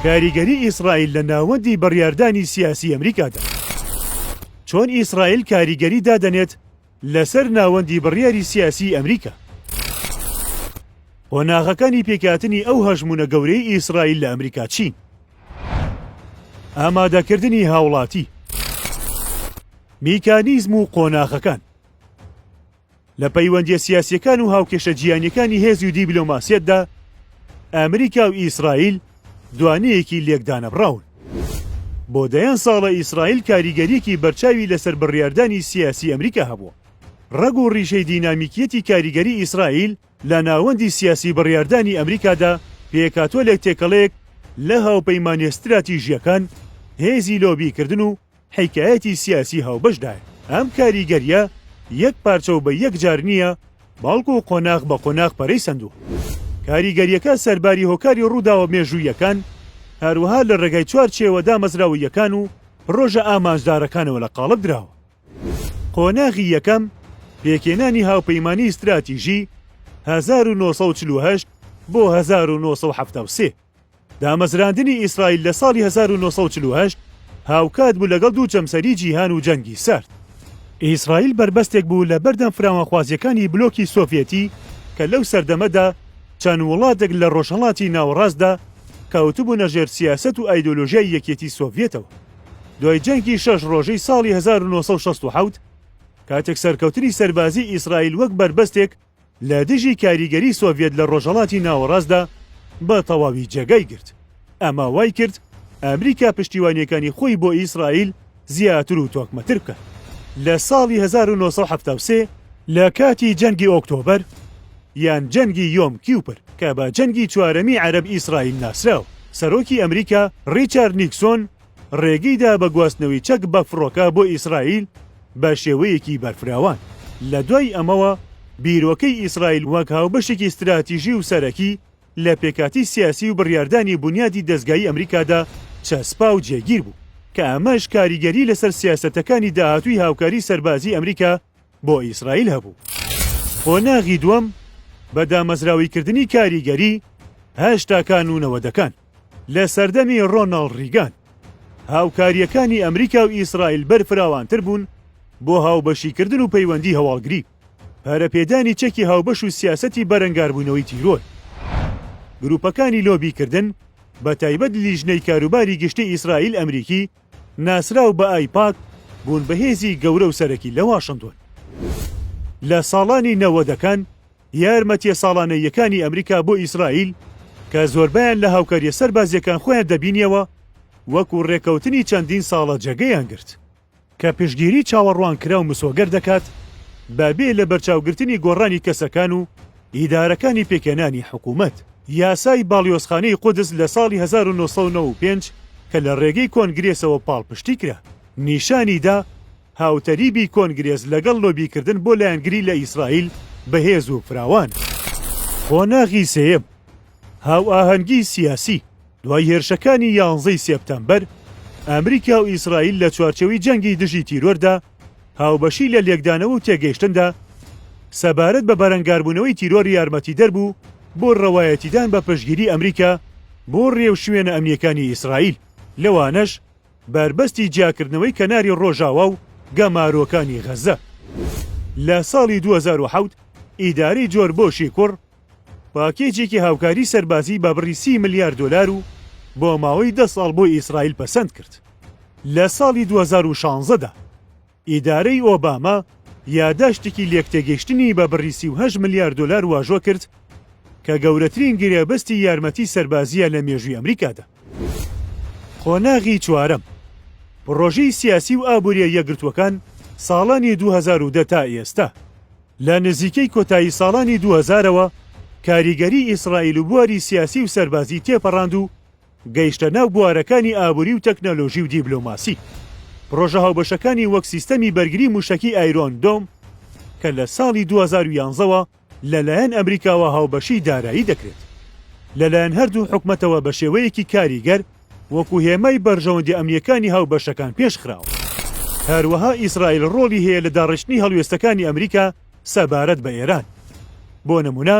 کاریگەری ئیسرائیل لە ناوەندی بڕیاردانی سیاسی ئەمریکادا، چۆن ئیسرائیل کاریگەری دادەنێت لەسەر ناوەندی بڕیاری سیاسی ئەمریکا؟ قۆناغەکانی پێکهاتنی ئەو هەژموونە گەورەی ئیسرائیل لە ئەمریکا چین؟ ئامادەکردنی هاوڵاتی، میکانیزم و قۆناغەکان. لە پەیوەندیە سیاسیەکان و هاوکێشە جیهانیەکانی هێزی و دیبلۆماسیەتدا ئەمریکا و ئیسرائیل دوانەیەکی لێکدانەبڕاون. بۆ دەیان ساڵە ئیسرائیل کاریگەریەکی بەرچاوی لەسەر بڕیاردانی سیاسی ئەمریکا هەبووە. ڕەگ و ڕیشەی دینامیکیەتی کاریگەری ئیسرائیل لە ناوەندی سیاسی بڕیاردانی ئەمریکادا پێکهاتوە لە تێکەڵەیەک لە هاوپەیمانێ ستراتیژیەکان، هێزی لۆبیکردن و حیکایەتی سیاسی هاوبەشدایە. ئەم کاریگەرییە یەک پارچە و بە یەک جار نییە، بەڵکو قۆناغ بە قۆناغ پەرەی سەندووە. کاریگەرییەکە سەرباری هۆکاری ڕووداوە مێژووییەکان، هەروەها لە ڕێگای چوارچێوە دامەزراوەییەکان و پڕۆژە ئامانجدارەکانەوە لە قاڵب دراوە. قۆناغی یەکەم، پێکهێنانی هاوپەیمانیی ستراتیژی، هەزار و نۆ سەد و چل و هەشت بۆ هەزار و نۆ سەد و حەفتا و سێ. دامەزراندنی ئیسرائیل لە ساڵی هەزار و نۆ سەد و چل و هەشت هاوکات بوو لەگەڵ دوو جەمسەری جیهان و جەنگی سارد. ئیسرائیل بەربەستێک بوو لە بەردەم فراوانخوازییەکانی بلۆکی سۆڤیەتی کە لەو سەردەمەدا چەند وڵاتێک لە ڕۆژهەڵاتی ناوەڕاستدا کەوتبوونە ژێر سیاسەت و ئایدۆلۆژیای یەکێتی سۆڤیەتەوە دوای جەنگی شەش ڕۆژەی ساڵی هەزار و نۆ سەد و شەست و حەوت کاتێک سەرکەوتنی سەربازیی ئیسرائیل وەک بەربەستێک لە دژی کاریگەری سۆڤیەت لە ڕۆژهەڵاتی ناوەڕاستدا بە تەواوی جێگای گرت، ئەمە وای کرد ئەمریکا پشتیوانییەکانی خۆی بۆ ئیسرائیل زیاتر و تۆکمەتر بکات. لە ساڵی هەزار و نۆ سەد و حەفتا و سێ لە کاتی جەنگی ئۆکتۆبەر یان جەنگی یۆم کیوپر کە بە جەنگی چوارەمی عەرەب-ئیسرائیل ناسراوە، سەرۆکی ئەمریکا ڕیچارد نیکسۆن، ڕێگەی دا بە گواستنەوەی چەک بە فڕۆکە بۆ ئیسرائیل بە شێوەیەکی بەرفراوان، لە دوای ئەمەوە بیرۆکەی ئیسرائیل وەک هاوبەشێکی ستراتیژی و سەرەکی لە پێکهاتەی سیاسی و بڕیاردانی بونیادی دەزگایی ئەمریکادا چەسپا و جێگیر بوو کە ئەمەش کاریگەری لەسەر سیاسەتەکانی داهاتووی هاوکاری سەربازی ئەمریکا بۆ ئیسرائیل هەبوو. قۆناغی دووەم، بە دامەزراوەیکردنی کاریگەری هەشتاکان و نەوەدەکان، لە سەردەمی ڕۆناڵد ڕیگان، هاوکارییەکانی ئەمریکا و ئیسرائیل بەرفراوانتر بوون بۆ هاوبەشیکردن و پەیوەندی هەواڵگری، پەرەپێدانی چەکی هاوبەش و سیاسەتی بەرەنگاربوونەوەی تیرۆر. گروپەکانی لۆبیکردن، بەتایبەت لیژنەی کاروباری گشتی ئیسرائیل-ئەمریکی، ناسراو بە ئایپاک، بوون بە هێزی گەورە و سەرەکی لە واشنتۆن. لە ساڵانی نەوەدەکان، یارمەتییە ساڵانەییەکانی ئەمریکا بۆ ئیسرائیل کە زۆربەیان لە هاوکارییە سەربازییەکان خۆیان دەبینییەوە وەکو ڕێککەوتنی چەندین ساڵە جێگەیان گرت کە پشتگیری چاوەڕوانکراو مسۆگەر دەکات بە بێ لەبەرچاوگرتنی گۆڕانی کەسەکان و ئیدارەکانی پێکهێنانی حکوومەت. یاسای باڵیۆزخانەی قودس لە ساڵی هەزار و نۆ سەد و نەوە و پێنج کە لە ڕێگەی کۆنگرێسەوە پاڵپشتی کرا، نیشانی دا، هاوتەریبی کۆنگرێس لەگەڵ لۆبیکردن بۆ لایەنگری لە ئیسرائیل بەهێز و فراوانە. قۆناغی سێیەم، هاوئاهەنگی سیاسی، دوای هێرشەکانی یانزە ی سێپتەمبەر، ئەمریکا و ئیسرائیل لە چوارچێوەی جەنگی دژی تیرۆردا هاوبەشی لە لێکدانەوە و تێگەیشتندا سەبارەت بە بەرەنگاربوونەوەی تیرۆر یارمەتیدەر بوو بۆ رەوایەتیدان بە پشتگیری ئەمریکا بۆ رێوشوێنە ئەمنییەکانی ئیسرائیل، لەوانەش بەربەستی جیاکردنەوەی کەناری ڕۆژاوا و گەمارۆکانی غەززە. لە ساڵی دوو هەزار و حەوت ئیدارەی جۆر بۆشی کوڕ پاکێجێکی هاوکاری سەربازی بە بڕی سی ملیار دۆلار و بۆ ماوەی دە ساڵ بۆ ئیسرائیل پەسەند کرد لە ساڵی دوو هەزار و شانزە دا. ئیدارەی ئۆباما یاداشتێکی لێکتێگەیشتنی بە بڕی سی و هەشت ملیار دۆلار واژۆ کرد کە گەورەترین گرێبەستی یارمەتی سەربازییە لە مێژووی ئەمریکادا. قۆناغی چوارەم، پڕۆژەی سیاسی و ئابوورییە یەکگرتووەکان ساڵانی دوو هەزار و دە تا ئێستا، لە نزیکەی کۆتایی ساڵانی دوو هەزارەوە کاریگەری ئیسرائیل و بواری سیاسی و سەربازی تێپەڕاند و، گەیشتە ناو بوارەکانی ئابووری و تەکنەلۆژی و دیبلۆماسی. پڕۆژە هاوبەشەکانی وەک سیستەمی بەرگری مووشەکی ئایرۆن دۆم کە لە ساڵی دوو هەزار و یازدە وە لەلایەن ئەمریکاوە هاوبەشی دارایی دەکرێت لەلایەن هەردوو حکومەتەوە بە شێوەیەکی کاریگەر وەکو هێمای بەرژەوەندی ئەمنییەکانی هاوبەشەکان پێش خراوە. هەروەها ئیسرائیل ڕۆڵی هەیە لە داڕشتنی هەڵوێستەکانی ئەمریکا سەبارەت بە ئێران. بۆ نمونە،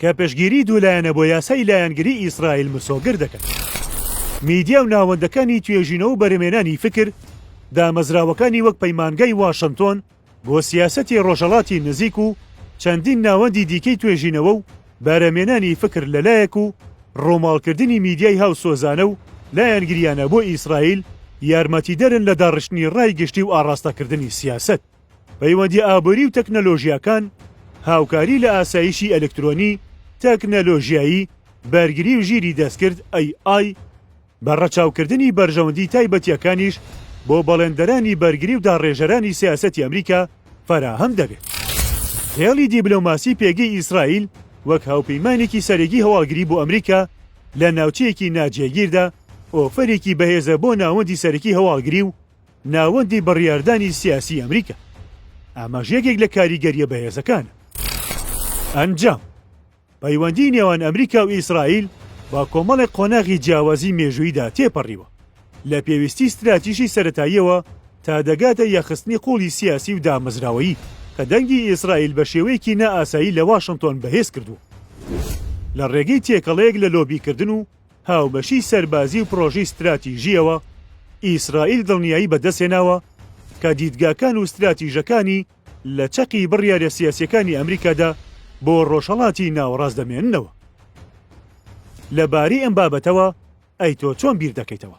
کە پشتگیری دوو لایەنە بۆ یاسای لایەنگری ئیسرائیل مسۆگەر دەکەن. میدیا و ناوەندەکانی توێژینەوە و بەرهەمێنانی فکر دامەزراوەکانی وەک پەیمانگای واشنتۆن بۆ سیاسەتی ڕۆژەڵاتی نزیک و چەندین ناوەندی دیکەی توێژینەوە و بەرەمێنانی فکر لە لایەک و ڕووماڵکردنی میدیای هاوسۆزانە و لایەنگریانە بۆ ئیسرائیل یارمەتیدەرن لە داڕشتنی ڕای گشتی و ئاڕاستەکردنی سیاسەت. پەیوەندییە ئابووری و تەکنەلۆژیاکان، هاوکاری لە ئاسایشی ئەلکترۆنی، تەکنەلۆژیایی، بەرگری و ژیری دەستکرد، AI، بە ڕەچاوکردنی بەرژەوەندی تایبەتییەکانیش بۆ بەڵێندەرانی بەرگری و داڕێژەرانی سیاسەتی ئەمریکا فەراهەم دەبێت. هێڵی دیبلۆماسی پێگەی ئیسرائیل وەک هاوپەیمانێکی سەرەگی هەواڵگری بۆ ئەمریکا لە ناوچەیەکی ناجێگیردا ئۆفەرێکی بەهێزە بۆ ناوەندی سەرەکی هەواڵگری و ناوەندی بڕیاردانی سیاسی ئەمریکا. ئاماژ یەکێک لە کاریگەرییە بەهێزەکانە. ئەنجام، پەیوەندی نێوان ئەمریکا و ئیسرائیل بە کۆمەڵێک قۆناغی جیاوازی مێژوویدا تێپەڕیوە، لە پێویستی ستراتیژی سەرەتاییەوە تا دەگاتە یەخستنی قوڵی سیاسی و دامەزراوەیی کە دەنگی ئیسرائیل بە شێوەیەکی نائاسایی لە واشنتۆن بەهێز کردووە لە ڕێگەی تێکەڵەیەک لە لۆبیکردن و هاوبەشیی سەربازی و پڕۆژەی ستراتیژییەوە، ئیسرائیل دڵنیایی بەدەستهێناوە کە دیدگاکان و ستراتیژەکانی لە چەقی بڕیارە سیاسییەکانی ئەمریکادا بۆ ڕۆژهەڵاتی ناوەڕاست دەمێننەوە. لەبارەی ئەم بابەتەوە ئەی تۆ چۆن بیر دەکەیتەوە؟